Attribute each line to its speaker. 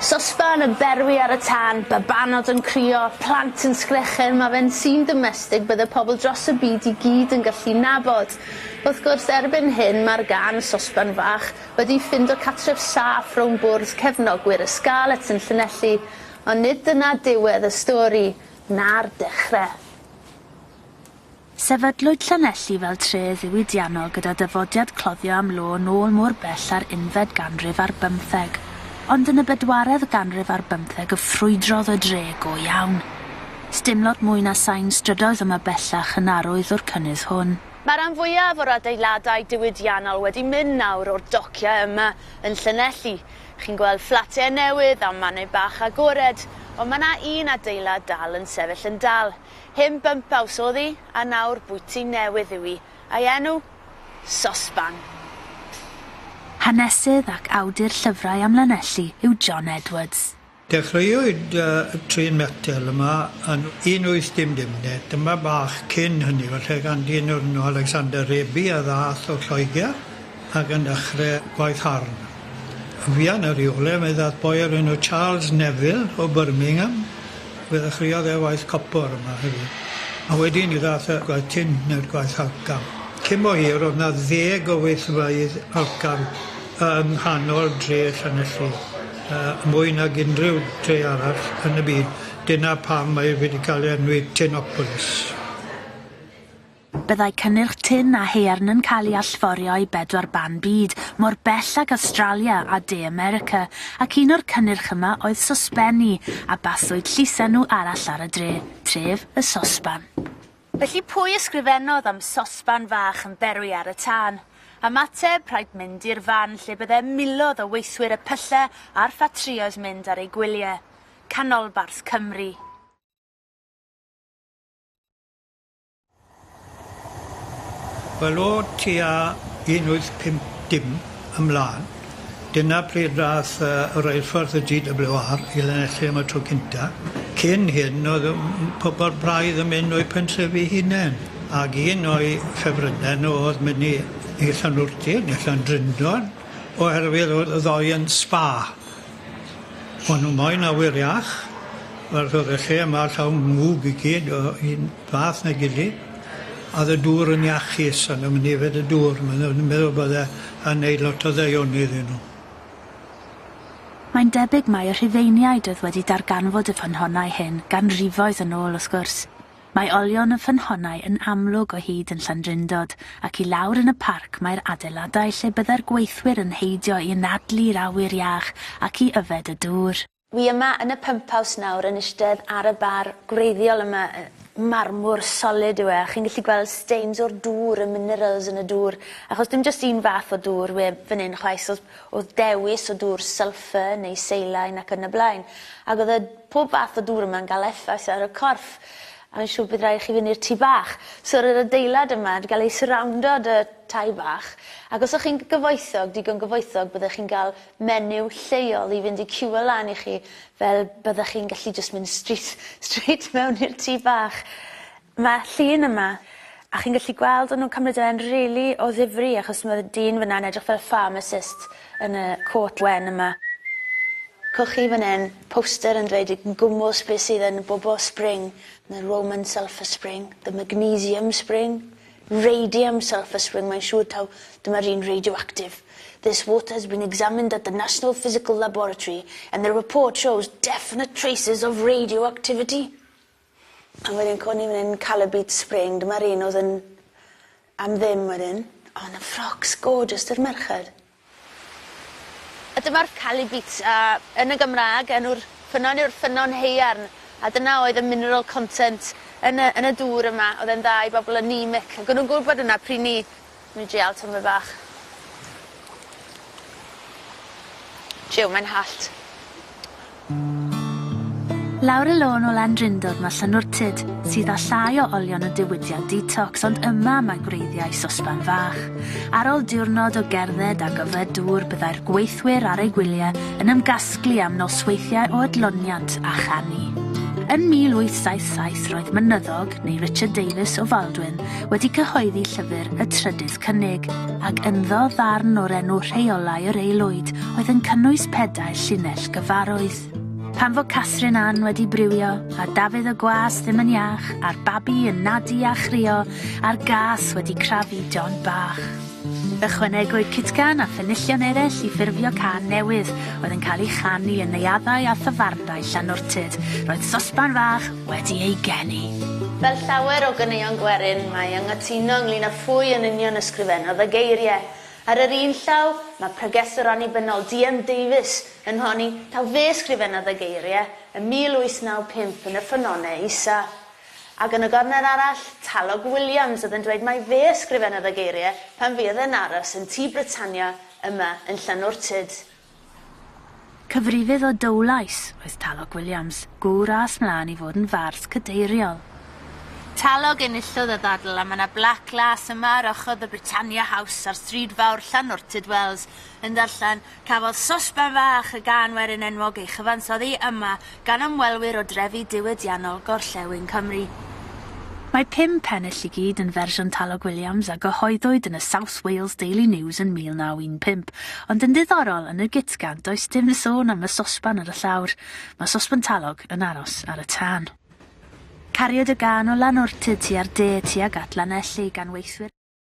Speaker 1: Sosban yn berwi ar y tân, babanod yn crio, plant yn sgrechen, mae fe'n sîn domestig bydde pobl dros y byd i gyd yn gallu nabod. Wrth gwrs, erbyn hyn mae'r gân 'Sosban Fach' wedi ffindo catref saff rownd bwrdd cefnogwyr y Scarlets yn Llanelli, ond nid dyna diwedd y stori, na'r dechre. Sefydlwyd Llanelli fel tref ddiwydiannol gyda dyfodiad cloddio am lo yn ôl mor bell â'r unfed ganrif ar bymtheg, ond yn y bedwaredd ganrif ar bymtheg y ffrwydrodd y dre go iawn. Sdim lot mwy na sain strydoedd yma bellach yn arwydd o'r cynnydd hwn. Mae rhan fwyaf o'r adeiladau diwydiannol wedi mynd nawr o'r dociau yma yn Llanelli. Chi'n gweld fflatiau newydd a mannau bach agored, ond mae 'na un adeilad dal yn sefyll yn dal. Hyn bympaws oedd hi, a nawr bwyty newydd yw hi, a'i enw? Sosban. Pffff. Hanesydd ac awdur llyfrau am Lanelli yw John Edwards. Dechreuwyd y trên metel yma yn 1800, neu tymor bach cyn hynny falle, gan dyn o'r enw Alexander Raby a ddaeth o Lloegr. Ac yn dechrau gwaith Harn. Yn fuan ar ei ôl e, mae dad boi o'r enw Charles Neville o Birmingham, fe ddechreuodd e waith copor yma hefyd, a wedyn ni ddaeth y gwaith tin neu'r gwaith alcan. Cyn bo hir o'dd 'na ddeg o weithfeydd alcan yng nghanol dre Llanelli, yy mwy nag unrhyw dre arall yn y byd, dyna pam mae wedi ca'l ei enwi Tinopolis. Byddai cynnyrch tin a haearn yn cael ei allforio i bedwar ban byd, mor bell ag Awstralia a De America, ac un o'r cynnyrch yma oedd sosbenni, a baswyd llysenw arall ar y dre, Tref y Sosban. Felly pwy ysgrifennodd am sosban fach yn berwi ar y tân? Ymateb, rhaid mynd i'r fan lle bydde milodd o weithwyr y pylle a'r ffatrïoedd mynd ar eu gwylie. Canolbarth Cymru. Wel o tua 1850 ymlân dyna pryd ddath yy y reilffordd y Gee Double-you Are i Lanelli am y tro cynta. Cyn hyn oedd yym m- pobol braidd yn myn' o'u pentrefi hunen ag un o'i ffefrynne nw o'dd myn' i i Llanwrty ne' Llandrindod oherwydd o'dd y ddou yn spa. O'n nhw moyn awyr iach, wel so o'dd y lle yma llawn mwg i gyd o un fath na'i gilydd, a o'dd y dŵr yn iachus, o'n nw'm yn yfed y dŵr, ma' nw yn meddwl bod e yn neud lot o ddaioni iddyn nhw. Mae'n debyg mai y Rhufeiniaid oedd wedi darganfod y ffynhonnau hyn ganrifoedd yn ôl, wrth gwrs. Mae olion y ffynhonnau yn amlwg o hyd yn Llandrindod ac i lawr yn y parc mae'r adeiladau lle byddai'r gweithwyr yn heidio i anadlu'r awyr iach ac i yfed y dŵr. Wi yma yn y pymphaws nawr yn isdedd ar y bar gwreiddiol yma, marmwr solid yw e a chi'n gallu gweld stains o'r dŵr, y minerals yn y dŵr achos dim jyst un fath o dŵr we- fan 'yn chwaith so Oedd dewis o dŵr sylffar neu seilain ac yn y blaen. Ac oedd y pob fath o dŵr yma'n gael effaith ar y corff. A fi'n siŵr bydd rhaid i chi fynd i'r tŷ bach. So roedd yr adeilad yma 'di gael ei syrawndo 'da tai bach. Ac os o'ch chi'n gyfoethog, digon gyfoethog, byddech chi'n gael menyw lleol i fynd i ciwio lan i chi fel byddech chi'n gallu jyst mynd straight straight mewn i'r tŷ bach. Mae llun yma, a chi'n gallu gweld o'n nhw'n cymryd e yn rili o ddifri achos mae'r dyn fan'na yn edrych fel y pharmacist yn y côt wen yma. Cewch chi fan hyn poster yn dweud yn gwmws beth sydd yn y bobl spring, the Roman sulphur spring, the magnesium spring, radium sulphur spring, mae'n siŵr taw dyma'r un radioactif. This water has been examined at the National Physical Laboratory and the report shows definite traces of radioactivity. A wedyn co ni fan 'yn ca'l y beach spring dyma'r un odd yn am ddim wedyn. O na ffrocs gorgeous dy'r merched. A dyma'r Cali Beats a yn y Gymraeg enw'r ffynnon yw'r Ffynnon Haearn a dyna oedd y mineral content yn y yn y dŵr yma o'dd e'n dda i bobol anemic ag o'n nw'n gwbod yna pry' 'ny Ni drial tymed bach. Jiw, mae'n hallt. Lawr y lôn o Landrindod mae Llanwrtyd, sydd â llai o olion y diwydiant detox ond yma mae gwreiddiau sosban fach. Ar ol diwrnod o gerdded ac yfed dŵr byddai'r gweithwyr ar eu gwyliau yn ymgasglu am nosweithiau o adloniant a chanu. Yn 1877 roedd Mynyddog, neu Richard Davies, o Faldwyn, wedi cyhoeddi llyfr y trydydd cynnig, ac ynddo ddarn o'r enw Rheolau yr Aelwyd oedd yn cynnwys pedair llinell gyfarwydd. Pam fo Catherine Ann wedi briwio, a Dafydd y Gwas ddim yn iach, a'r babi yn nadu a chrio, a'r gas wedi crafu John bach. Ychwanegwyd cutgan a phenillion eraill i ffurfio cân newydd, oedd yn cael ei chanu yn neuaddau a thafarndai Llanwrtyd. Roedd sosban fach wedi ei geni. Fel llawer o ganeuon gwerin, mae anghytuno ynglŷn â phwy yn union ysgrifennodd y geiriau. Ar yr un llaw, mae pregethwr annibynnol, DM Davies, yn honni taw fe ysgrifennodd y geiriau ym 1895 yn y Ffynonnell Isa. Ac yn y gornel arall, Talog Williams oedd yn dweud mai fe ysgrifennodd y geiriau pan fuodd e'n aros yn Tŷ Britannia yma yn Llanwrtyd. Cyfrifydd o Dowlais oedd Talog Williams, gŵr a aeth 'mlaen i fod yn fars cadeiriol. Talog enillodd y ddadl a mae 'na blac las yma ar ochr The Britannia House ar Stryd Fawr Llanwrtyd Wells yn darllen Cafodd Sosban Fach y Gân Werin enwog ei chyfansoddi yma gan ymwelwyr o drefi diwydiannol gorllewin Cymru. Mae pum pennill i gyd yn fersiwn Talog Williams a gyhoeddwyd yn y South Wales Daily News yn 1915, ond yn ddiddorol, yn y Gitga'nt does dim sôn am y sosban ar y llawr, mae sosban talog yn aros ar y tân. Cariad y gân o Lanortyd tua'r de tuag at Lanelli gan weithwyr.